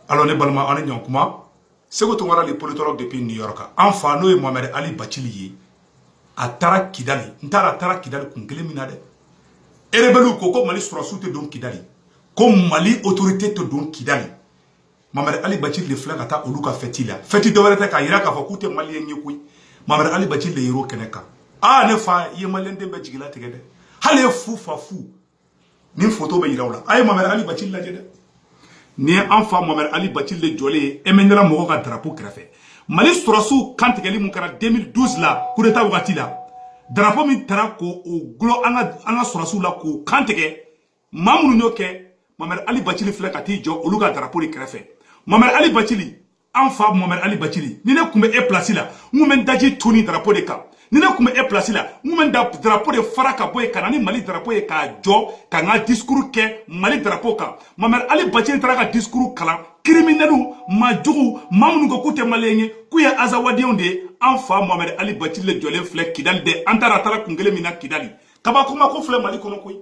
alors ne balima aw ni ɲɔgɔn kuma seku tunkara le politologue depuis new york an fa n'o ye mohamɛd ali bacili ye a taara kidali n taara a taara kidali kun kelen min na dɛ erebeliw ko ko mali sɔrɔsiw tɛ don kidali ko mali autorité tɛ don kidali mohamɛd ali bacili de filɛ ka taa olu ka fɛti la fɛti dɔwɛrɛ tɛ k'a yira k'a fɔ k'u tɛ maliyɛn ye koyi mohamɛd ali bacili de yer'o kɛnɛ kan aa ne fa i ye maliyɛnden bɛɛ jigila tigɛ dɛ hali ye fu fa fu nin foto bɛ yira aw la a ye mohamɛd ali bacili lajɛ dɛ nin ye an fa mohamɛd ali bacili de jɔlen ye ɛmɛnɛla mɔgɔ ka darapo kɛrɛfɛ mali sɔrɔsiw kantigɛli min kɛra 2012 la kudeta wagati la darapo min tara ko o gulɔ an ka an ka sɔrɔsiw la k'o kantigɛ maa minnu y'o kɛ mohamɛd ali bacili filɛ ka t'i jɔ olu ka darapo de kɛrɛfɛ mohamɛd ali bacili an fa mohamɛd ali bacili ni ne tun bɛ e pilasi la n tun bɛ n daji tu nin darapo de kan ni ne tun bɛ e pilasi la n tun bɛ da darapo de fara ka bɔ yen ka na ni mali darapo ye k'a jɔ ka n ka disikuru kɛ mali darapo kan mohamɛd ali bacili taara ka disikuru kalan kiriminɛliw maa jugu maa minnu ko k'u tɛ maliyɛn ye k'u ye azawadenw de ye an fa mohamɛd ali bacili le jɔlen filɛ kidali dɛ an taara a taara kun kelen min na kidali kabakoma ko filɛ mali kɔnɔ koyi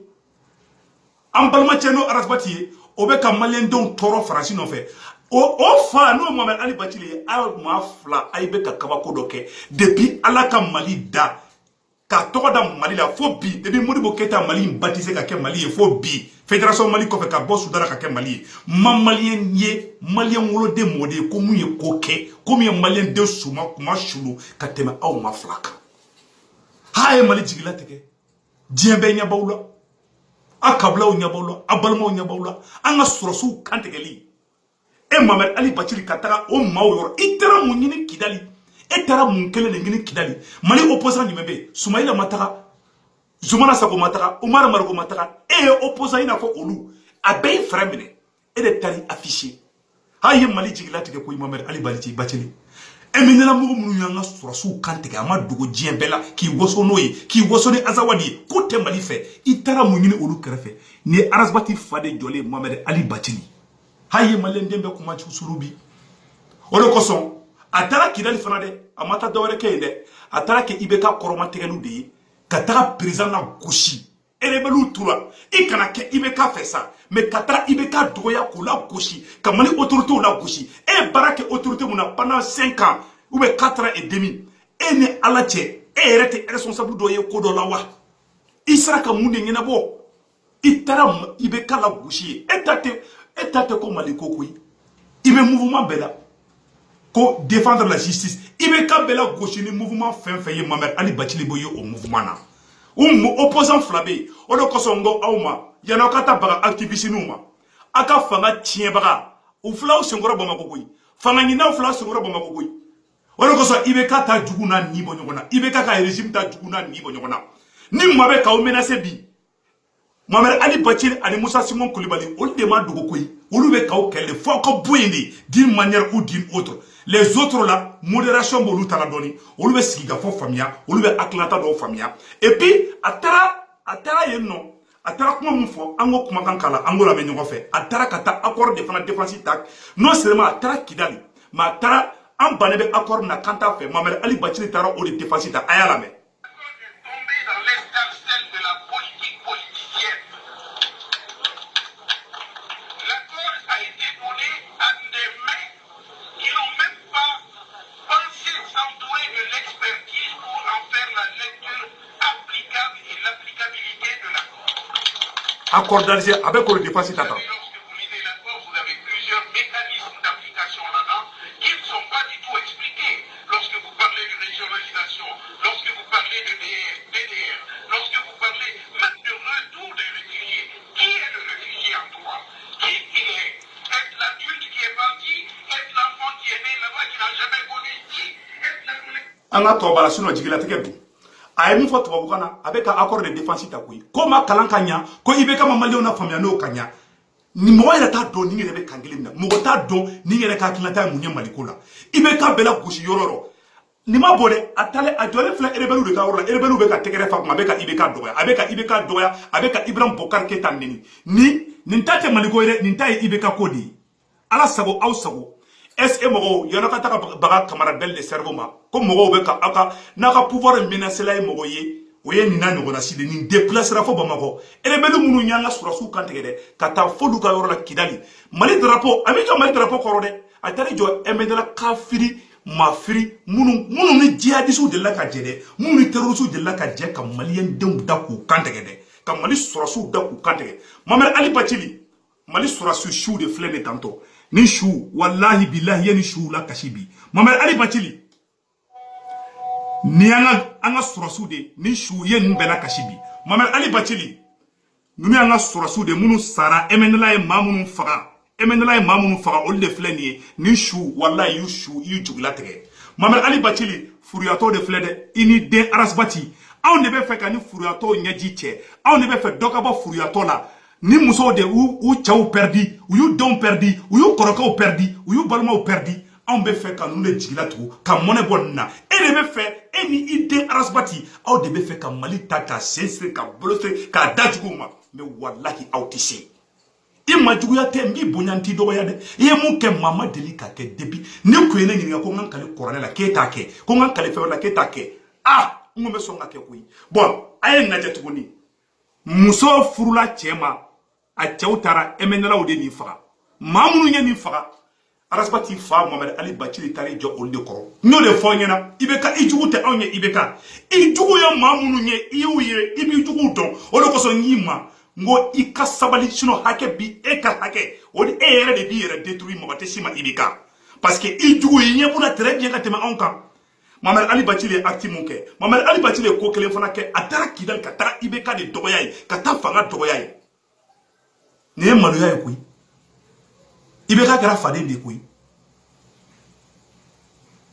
an balimacɛ n'o arasibati ye o bɛ ka maliyɛndenw tɔɔrɔ faransi nɔfɛ o o fa n'o mohamɛd ali bacili ye a maa fila a ye bɛ ka kabako dɔ kɛ depi ala ka mali da k'a tɔgɔ da mali la fo bi depi modibo keyita mali in batise ka kɛ mali ye fo bi federasɔn mali kɔfɛ ka bɔ sudan na ka kɛ mali ye n ma maliyɛn ye maliyɛn woloden mɔgɔ de ye ko min ye ko kɛ ko min ye maliyɛnden suma kunmasuli ka tɛmɛ aw maa fila kan ha a ye mali jigila tigɛ diɲɛ bɛɛ ɲɛbaw la a kabilaw ɲɛbaw la a balimaw ɲɛbaw la an ka sɔrɔsiw kantigɛli e mohamɛd ali bacili ka taga o maaw yɔrɔ i taara mun ɲini kidali e taara mun kelen de ɲini kidali mali opposant jumɛn bɛ yen sumayila ma taga zumana sako ma taga umar mariko ma taga e ye opposant i n'a fɔ olu a bɛɛ ye fɛɛrɛ minɛ e de taara afficher haa i ye mali jigila tigɛ koyi mamɛd ali bali ci bacili ɛmɛnɛla mɔgɔ minnu y'an ka sɔrɔsiw kan tigɛ a ma dogo diɲɛ bɛɛ la k'i waso n'o ye k'i waso ni azawadi ye k'u tɛ mali fɛ i taara mun ɲini olu kɛrɛfɛ nin ye arasibati fa de jɔlen mamɛd ali bacili haa i ye maliyɛn den bɛɛ kunmasuli bi o de kosɔn a taara kidali fana dɛ a ma taa dɔwɛrɛ kɛ yen dɛ a taara kɛ ibeka kɔrɔmatigɛli de ye ka taga perezidan nagosi erebɛliw tora i kana kɛ ibeka fɛ sa mais ka taa ibeka dɔgɔya k'o lagosi ka mali otoritew lagosi e ye baara kɛ otorite min na pendant 5 ans ou bien 4 ans et demi e ni ala cɛ e yɛrɛ tɛ responsable dɔ ye ko dɔ la wa i sera ka mun de ɲɛnabɔ i taara ibeka lagosi yen e ta tɛ e ta tɛ ko mali ko koyi i bɛ mouvement bɛɛ la ko défendre la justice ibeka bɛ lagosi ni mouvement fɛn fɛn ye mamɛri ali bacili bɛ ye o mouvement na u opposant fila bɛ yen o de kosɔn n ko aw ma yanni aw ka taa baga activisiniw ma aw ka fanga tiɲɛbaga u filɛ aw senkɔrɔ bamakɔ koyi fanga ɲininaw filɛ aw senkɔrɔ bamakɔ koyi o de kosɔn ibeka t'a jugu n'a ɲin bɔ ɲɔgɔn na ibeka ka régime t'a jugu n'a ɲin bɔ ɲɔgɔn na ni maa bɛ k'aw menacer bi mamari ali bacili ani musa sinko kulibali olu de ma dogo koyi olu bɛ k'aw kɛlɛ fo aw ka bɔ yen dɛ d'une manière ou d'une autre les autres la modération b'olu ta la dɔɔni olu bɛ sigikafɔ faamuya olu bɛ hakilata dɔw faamuya et puis a taara a taara yen nɔ a taara kuma min fɔ an k'o kumakan k'a la an k'o lamɛn ɲɔgɔn fɛ a taara ka taa accord de fana défense ta non seulement a taara kidali mais a taara an bannen bɛ accord min na k'an t'a fɛ mamari ali bacili taara o de défense ta a y'a lamɛn kɔrɔdalize a bɛ koro defasi ta kan an k'a to o la sinon jigilatigɛ don a ye min fɔ tubabukan na a bɛ ka accord de défense ta koyi k'o ma kalan ka ɲa ko ibeka ma maliyɛnw lafaamuya n'o ka ɲa nin mɔgɔ yɛrɛ t'a dɔn nin yɛrɛ bɛ kan kelen min na mɔgɔ t'a dɔn nin yɛrɛ ka hakilinata ye mun ye maliko la ibeka bɛ lagosi yɔrɔ yɔrɔ nin ma bɔ dɛ a taalen a jɔlen filɛ erebɛliw de ka yɔrɔ la erebɛliw bɛ ka tɛgɛrɛ f'a kuma a bɛ ka ibeka dɔgɔya a bɛ ka ibeka dɔgɔya a bɛ ka ibrahim bɔkari keyita neni ni nin ta tɛ maliko ye dɛ nin ta ye ibeka ko de ye ala sago aw sago est-ce que mɔgɔw yanni aw ka taa baga camarade ben le cerveau ma ko mɔgɔw bɛ ka aw ka n'a ka pouvoir menacela ye mɔgɔ ye o ye nin n'a ɲɔgɔnna si de nin déplacera fo bamakɔ rebelle minnu y'an ka sɔrɔdasiw kan tigɛ dɛ ka taa f'olu ka yɔrɔ la kidali mali drapeau a m'i jɔ mali drapeau kɔrɔ dɛ a taar'i jɔ ɛmɛnɛla kafiri mafiri minnu minnu ni jihadisiw delila ka jɛ dɛ minnu ni terrorisiw delila ka jɛ ka maliyɛndenw da k'u kan tigɛ dɛ ka mali sɔrɔdasiw da k'u kan tigɛ mamɛri ali bacili mali sɔrɔdasiw suw de filɛ ne tantɔ ni su walahi bilahi i ye nin suw lakasi bi mamari ali bacili ni an ka an ka sɔrɔdasiw de ni su ye ninnu bɛɛ lakasi bi mamari ali bacili ninnu y'an ka sɔrɔdasiw de minnu sara emɛnɛla ye maa minnu faga emɛnɛla ye maa minnu faga olu de filɛ nin ye ni su walahi i y'u su i y'u jigilatigɛ mamari ali bacili furuyatɔw de filɛ dɛ i n'i den arasibati anw de b'a fɛ ka nin furuyatɔw ɲɛji cɛ anw de b'a fɛ dɔ ka bɔ furuyatɔ la nin musow de y'u cɛw pɛridi u y'u denw pɛridi u y'u kɔrɔkɛw pɛridi u y'u balimaw pɛridi anw bɛ fɛ ka ninnu de jigila tugu ka mɔnɛ bɔ nin na e de bɛ fɛ e ni i den arasibati aw de bɛ fɛ ka mali ta k'a sen siri k'a bolo siri k'a di juguw ma mɛ walahi aw tɛ se i ma juguya tɛ n b'i bonya n t'i dɔgɔya dɛ i ye min kɛ maa ma deli k'a kɛ depi ne kun ye ne ɲininka ko n ka kali kuranɛ la k'e t'a kɛ ko n ka kali fɛn wɛrɛ la k'e t'a kɛ a n kun bɛ sɔn k'a kɛ koyi bɔn a ye nin lajɛ tuguni muso furula cɛ ma a cɛw taara ɛmɛnɛlaw de nin faga maa minnu ye nin faga arasibati fa mamɛdi ali bacili taara i jɔ olu de kɔrɔ n y'o de fɔ i ɲɛna ibeka i jugu tɛ anw ye ibeka i jugu ye maa minnu ye i y'u ye i b'i juguw dɔn o de kosɔn n y'i ma n ko i ka sabali sinon hakɛ bɛ e kan hakɛ o de e yɛrɛ de b'i yɛrɛ détruire mɔgɔ tɛ se i ma ibeka parce que i juguw i ɲɛ b'u la très bien ka tɛmɛ anw kan mamɛdi ali bacili ye acte min kɛ mamɛdi ali bacili ye ko kelen fana kɛ a taara kidali ka taga ibeka de dɔgɔya yen ka taa fanga dɔgɔya yen nin ye maloya ye koyi ibeka kɛra faden de ye koyi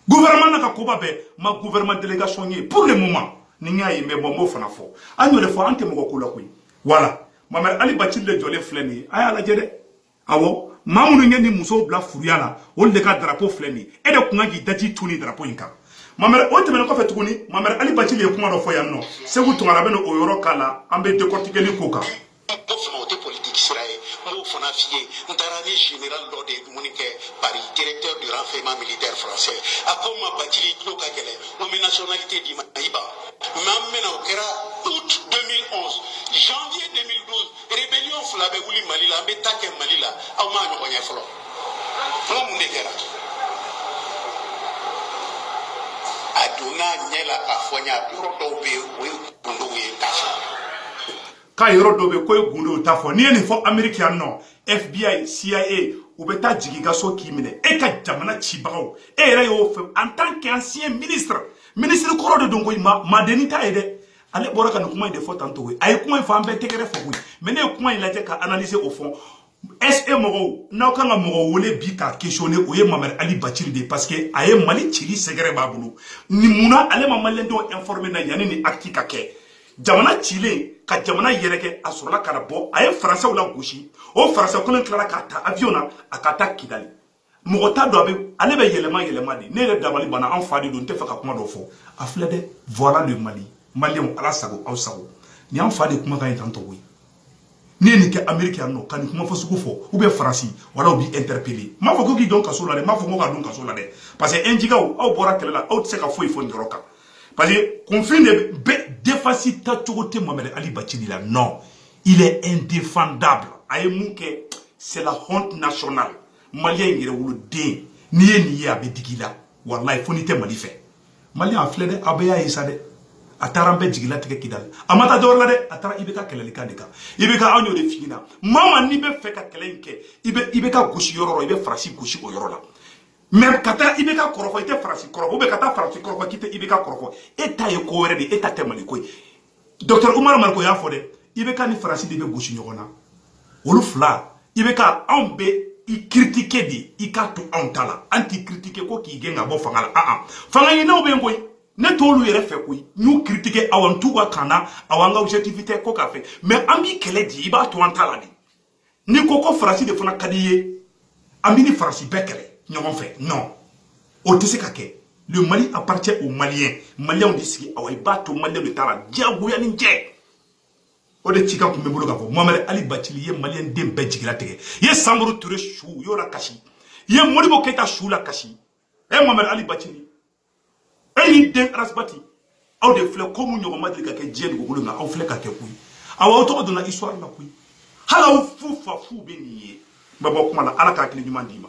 gouvernement n'a ka koba bɛɛ n ma gouvernement délégation ye pour le moment ni n y'a ye mɛ bɔn n b'o fana fɔ an y'o de fɔ an tɛ mɔgɔ ko la koyi voilà mamɛdi ali bacili jɔlen filɛ nin ye a y'a lajɛ dɛ awɔ maa minnu ye nin musow bila furuya la olu de ka darapo filɛ nin e de kun ka k'i daji tu nin darapo in kan mamɛdi o tɛmɛnen kɔfɛ tuguni mamɛdi ali bacili ye kuma dɔ fɔ yan nɔ seku tunkara bɛ na o yɔrɔ k'a la an bɛ dekɔrtikeli ko kan o fana o tɛ politiki sira ye n b'o fana f'i ye n taara ni général dɔ de ye dumuni kɛ paris directeur du renseignement militaire français a ko n ma bacili i tulo ka gɛlɛn n bɛ nationalité d'i ma i ba mɛ an bɛna o kɛra août 2011 janvier 2012 rébellion fila bɛ wuli mali la an bɛ ta kɛ mali la aw m'a ɲɔgɔn ye fɔlɔ n ko mun de kɛra a donna ɲɛ la k'a fɔ n ye a yɔrɔ dɔw bɛ yen o ye gundow ye k'a fɔ k'a yɔrɔ dɔw bɛ k'o ye gundow t'a fɔ n'i ye nin fɔ ameriki yan nɔ fbi cia u bɛ taa jigin i ka so k'i minɛ e ka jamana cibagaw e yɛrɛ y'o fɛ en tant qu'ancien ministre ministre kɔrɔ de don koyi madenni t'a ye dɛ ale bɔra ka nin kuma in de fɔ tantɔ ye a ye kuma in fɔ an bɛɛ tɛgɛrɛ fɔ koyi mɛ ne ye kuma in lajɛ ka analyser au fond est-ce que mɔgɔw n'aw kan ka mɔgɔ wele bi k'a questionner o ye mamɛdi ali bacili de ye parce que a ye mali cili secret b'a bolo nin munna ale ma maliyɛn dɔw informer na yanni nin acte ka kɛ jamana cilen kɔ jamana yɛrɛkɛ a sɔrɔla ka na bɔ a ye faransɛw la gosi o faransɛ kolon tilara k'a ta avion na a ka taa kidali mɔgɔ t'a dɔn a bɛ ale bɛ yɛlɛma yɛlɛma de ne yɛrɛ dabali banna an fa de don n t'a fɛ ka kuma dɔ fɔ a filɛ dɛ voilà le mali maliyɛnw ala sago aw sago nin an fa de kumakan ye tan tɔgɔ ye n'i ye nin kɛ ameriki yan nɔ ka nin kuma fɔ sugu fɔ u bɛ faransi wala u b'i interpele n m'a fɔ ko k'i don kaso la dɛ n m'a fɔ ko k'a don kaso la dɛ parce que ɛnjikaw aw bɔra kɛlɛ la aw tɛ se ka foyi fɔ nin yɔrɔ kan parce que kunfin de bɛ défense ta cogo tɛ mamɛdi ali bacili la non il est indéfendable a ye mun kɛ c'est la honte nationale maliyɛn yɛrɛwoloden n'i ye nin ye a bɛ digi i la walayi fo n'i tɛ mali fɛ maliyɛn a filɛ dɛ aw bɛɛ y'a ye sa dɛ a taara an bɛɛ jigilatigɛ kidali a ma taa dɔwɛrɛ la dɛ a taara ibk kɛlɛlikan de kan ibk anw y'o de f'i ɲɛna maa ma n'i bɛ fɛ ka kɛlɛ in kɛ i bɛ ibk gosi yɔrɔ yɔrɔ i bɛ faransi gosi o yɔrɔ la mais ka taa ibk kɔrɔfɔ i tɛ faransi kɔrɔfɔ ou bien ka taa faransi kɔrɔfɔ k'i tɛ ibk kɔrɔfɔ e ta ye ko wɛrɛ de ye e ta tɛ mali ko ye docteur umaru mariko y'a fɔ dɛ ibk ni faransi de bɛ gosi ɲɔgɔn na olu fila ibk anw bɛ i kiritike de i k'a to anw ta la an t'i kiritike ko k'i gɛn ka bɔ fanga la aa fanga ɲininaw bɛ yen koyi ne t'olu yɛrɛ fɛ koyi n y'u kiritike awa n t'u ka kan na awa n ka objectif tɛ ko k'a fɛ mais an b'i kɛlɛ de i b'a to an ta la de ni ko ko faransi de fana ka d'i ye an b'i ni faransi bɛɛ kɛlɛ ɲɔgɔn fɛ non o tɛ se ka kɛ le mali appartient aux maliens maliens de sigi awa i b'a to maliens de ta la diyagoya ni ce o de cikan tun bɛ n bolo k'a fɔ mohamed ali bacili ye maliyɛn den bɛɛ jigilatigɛ i ye samori ture su i y'o lakasi i ye modibo keyita su lakasi ɛ mohamed ali bacili e y'i den ras bath aw de filɛ ko mun ɲɔgɔn ma deli ka kɛ diɲɛ dugukolo kan aw filɛ k'a kɛ koyi awa aw tɔgɔ donna histoire la koyi hali aw fu fa fu bɛ nin ye n bɛ bɔ kuma la ala ka hakili ɲuman d'i ma